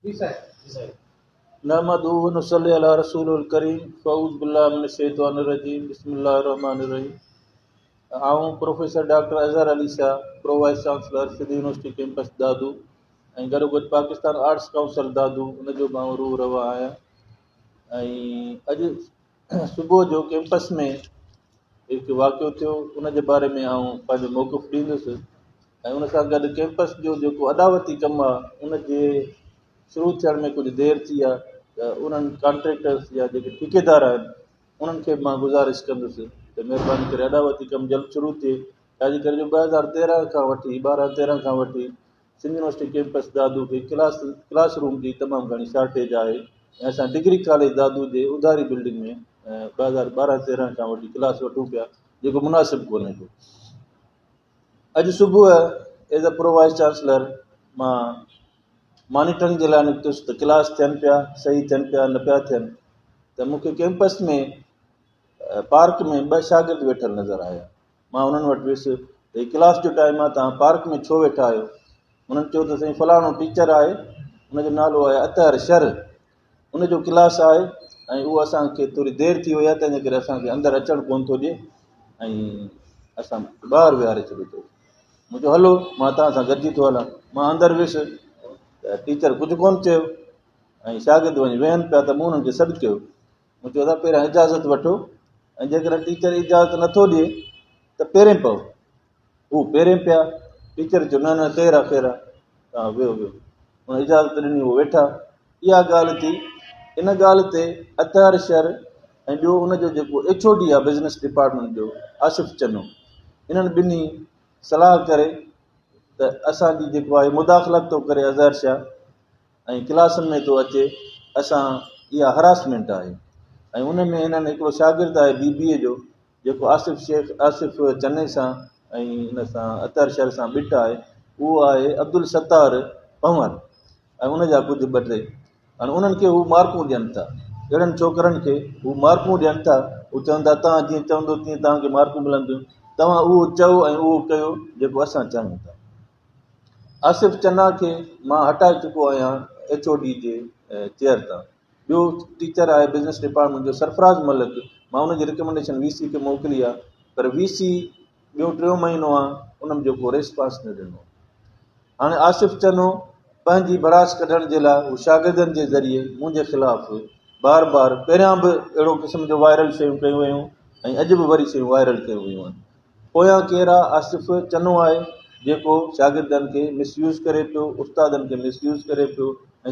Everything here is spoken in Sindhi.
نحمده ونصلي علي رسوله الڪريم فاعوذ بالله من الشيطان الرجيم بسم الله الرحمٰن الرحيم آئون professor doctor Azhar Ali Shah pro vice chancellor Sindh university campus Dadu ۽ گڏوگڏ پاڪستان آرٽس ڪائونسل دادو ان جو به آئون روح روا آهيان ۽ اڄ صبح جو ڪيمپس ۾ هڪ واقعو ٿيو ان جي باري ۾ آئون پنهنجو موقف ڏيندس ۽ ان سان گڏ ڪيمپس جو جيڪو اڏاوتي ڪم آهي ان جي شروع ٿيڻ ۾ ڪجهه دير ٿي آهي ته انهن ڪانٽريڪٽرس يا جيڪي ٺيڪيدار آهن انهن کي مان گذارش ڪندس ته مهرباني ڪري اڏاوتي ڪم جلد شروع ٿئي ڇاجي ڪري جو ٻه هزار تيرهن کان وٺي ٻارهن تيرهن کان وٺي سنڌ يونيورسٽي ڪيمپس دادو کي ڪلاس ڪلاس روم جي تمام گهڻي شارٽيج آهي ۽ اسان ڊگري ڪاليج دادو جي اڌاري بلڊنگ ۾ ٻه هزار ٻارهن تيرهن کان وٺي ڪلاس وٺون پيا جيڪو مناسب ڪونهي ڪو اڄ صبح as a pro vice chancellor مان مانيٽرنگ جي لاء نڪتس ته ڪلاس ٿين پيا صحيح ٿين پيا نه پيا ٿين ته مون کي ڪيمپس ۾ پارڪ ۾ ٻه شاگرد ويٺل نظر آيا مان انهن وٽ ويس ته هي ڪلاس جو ٽائيم آهي توهان پارڪ ۾ ڇو ويٺا آهيو؟ انهن چيو ته سائين فلاڻو ٽيچر آهي ان جو نالو آهي اطهر شر ان جو ڪلاس آهي ۽ اهو اسان کي ٿوري دير ٿي وئي آهي تنهنجي ڪري اسان کي اندر اچڻ ڪونه ٿو ڏي ۽ اسان ٻاهر ويهاري ڇڏيو اٿئي مون چيو هلو مان توهان سان گڏجي ٿو هلان مان اندر ويس ته ٽيچر ڪجهه ڪونه چيو ۽ شاگرد وڃي ويهن پيا ته مون انهن کي سڏ ڪيو مون چيو اسان پهريان اجازت وٺو ۽ جيڪڏهن ٽيچر اجازت نٿو ڏئي ته پهرين پئو هو پهرين پيا ٽيچر چيو نه نه خير آ خير آ تان ويهو ويهو هن اجازت ڏني هو ويٺا اها ڳالهه ٿي ان ڳالهه تي اطهر شر ۽ ٻيو ان جو جيڪو ايڇ او ڊي آ بزنس ڊپارٽمينٽ جو آصف چنو انهن ٻنهي صلاح ڪري ته اسانجي جيڪو آهي مداخلت ٿو ڪري اظهر شاهه ۽ ڪلاسن ۾ ٿو اچي اسان اها هراسمينٽ آهي ۽ ان ۾ هنن هڪڙو شاگرد آهي بي بي اي جو جيڪو آصف شيخ آصف چني سان ۽ ان سان اطهر شر سان ٻٽ آهي اهو آهي عبدالستار پنور ۽ ان جا ڪجهه ٻه ٽي هاڻي انهن کي هو مارڪون ڏين ٿا اهڙن ڇوڪرن کي هو مارڪون ڏين ٿا هو چون ٿا تان جيئن چوندو تيئن تان کي مارڪون ملنديون توهان اهو چئو ۽ اهو ڪيو جيڪو اسان چاهيون ٿا آصف چنا کي مان هٽائي چڪو آهيان ايڇ او ڊي جي چيئر تان. ٻيو ٽيچر آهي بزنس ڊپارٽمينٽ جو سرفراز ملڪ، مان ان جي رڪمينڊيشن وي سي کي موڪلي آهي پر وي سي ٻيو ٽيون مهينو آهي ان جو ڪو ريسپانس نه ڏنو. هاڻي آصف چنو پنهنجي ڀڙاس ڪڍڻ جي لاء هو شاگردن جي ذريعي منهنجي خلاف بار بار پهريان به اهڙو قسم جو وائرل شيون ڪيون ويون ۽ اڄ به وري شيون وائرل ڪيون ويون آهن. پويان ڪير آ آصف چنو آهي جيڪو شاگردن کي مس يوز ڪري پيو استادن کي مس يوز ڪري پيو ۽